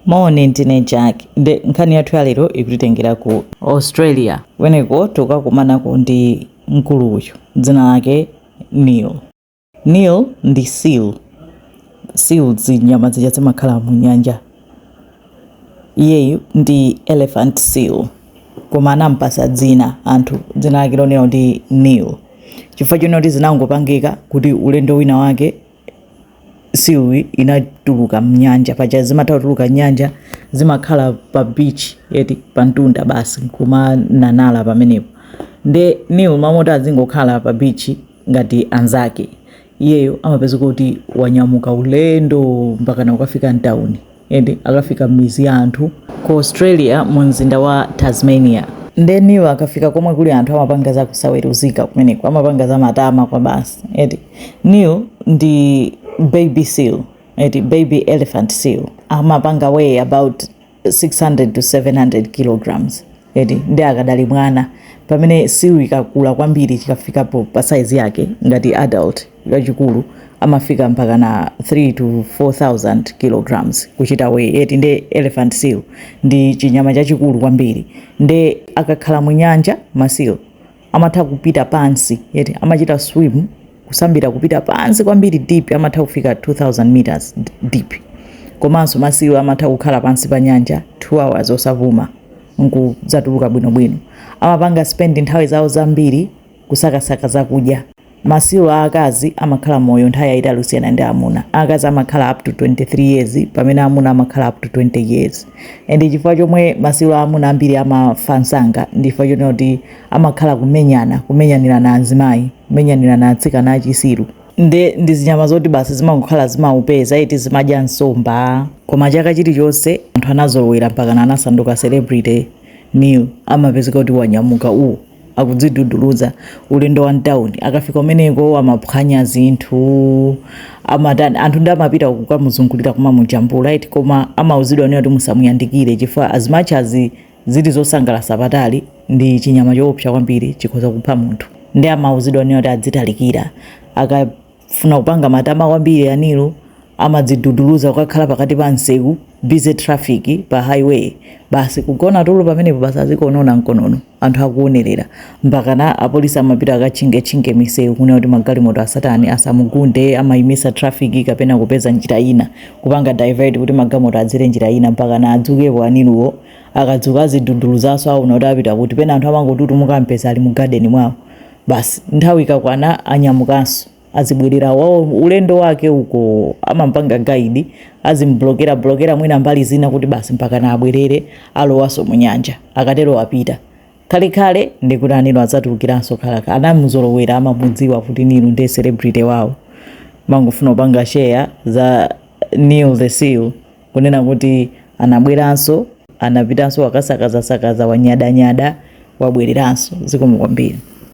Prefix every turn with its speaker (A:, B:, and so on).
A: Moni ndine Jack nde nkhani yathu ya lero ikutitengera ku. Australia. Kumeneko tikukakumanako ndi mkulu uyu dzina lake Neil. Neil ndi seal. Seal ndi zinyama zija zimakhala mu nyanja. Iyeyu ndi elephant seal koma anampatsa dzina anthu dzina lake lonena kuti Neil chifukwa chonena kuti zinangopangika kuti ulendo wina wake seal inatuluka mnyanja paja zimatha kutuluka mnyanja zimakhala pa beach eti pa mtunda basi nkumanyanyala pamenepo nde Neil mmalo moti azingokhala pa beach ngati anzake iyeyo amapezeka kuti wanyamuka ulendo mpakana kukafika mtauni eti akafika mmidzi ya anthu ku Australia mu mzinda wa Tasmania. Nde Neil akafika komwe kuli anthu amapanga za kusaweruzika kumeneko, amapanga za matama kwabasi eti. Neil ndi baby seal eti, baby elephant seal amapanga weigh about 600 to 700 kilograms. eti nde akadali mwana pamene seal ikakula kwambiri chikafikapo pa size yake ngati adult chachikulu amafika mpaka na 3 to 4000 kilograms kuchita weigh eti nde elephant seal ndi chinyama chachikulu kwambiri nde akakhala mu nyanja ma seal amatha kupita pansi eti amachita swim kusambira kupita pansi kwambiri deep amatha kufika 2000 meters deep komanso ma seal amatha kukhala pansi pa nyanja 2 hours osavuuka nkudzatuluka bwinobwino amapanga spend nthawi zawo zambiri kusakasaka zakudya Ma seal aakazi amakhala moyo nthawi yayitali kusiyana ndi amuna. Akazi amakhala up to 23 years pamene amuna amakhala up to 20 years. And chifukwa chomwe ma seal aamuna ambiri amafa msanga ndi chifukwa chonena kuti amakhala kumenyana, kumenyanirana anzimayi, kumenyanirana atsikana achi seal. Nde ndi zinyama zoti basi zimangokhala zimaupeza eti zimadya nsomba. Koma chaka chilichonse anthu anazolowera mpakana anasanduka celebrity Neil amapezeka kuti wanyamuka uu. akudziduduluza ulendo wa mtauni akafika kumeneko amaphwanya zinthu amatani anthu nde amapita kukamuzungulira kumamujambula eti koma amauzidwa ndithu kuti musamuyandikire chifukwa as much as zili zosangalatsa patali ndi chinyama choopsa kwambiri chikhoza kupha munthu nde amauzidwa ndithu kuti azitalikira aka funa kupanga matama kwambiri a Neil amadziduduluza kukakhala pakati pa msewu busy traffic pa highway basi kugona tulo pamenepo basi azikonona mkonono anthu akuonerera mpakana apolisi amapita akatchingetchinge misewu kunena kuti magalimoto asatani asamugunde amayimisa traffic kapena kupeza njira ina kupanga divert kuti magalimoto adzere njira ina mpakana adzukepo a Neil wo akadzuka aziduduluzanso aona kuti apita kuti pena anthu amangotutumuka kumpeza ali mu garden mwawo Basi nthawi ikakwana anyamukanso azibwerera wawo ulendo wake uko amampanga guide azimblokera blokera mwina mbali zina kuti basi mpaka na abwerere alowanso mu nyanja akatero wapita kale kale ndikuti anino adzatulukiranso khalaka anamuzolowera amamudziwa kuti uyu ndiye celebrity wawo mangofuna kupanga share za Neil the Seal kunena kuti anabweranso anapitanso wakasakazasakaza wanyadanyada wabwereranso zikomo kwambiri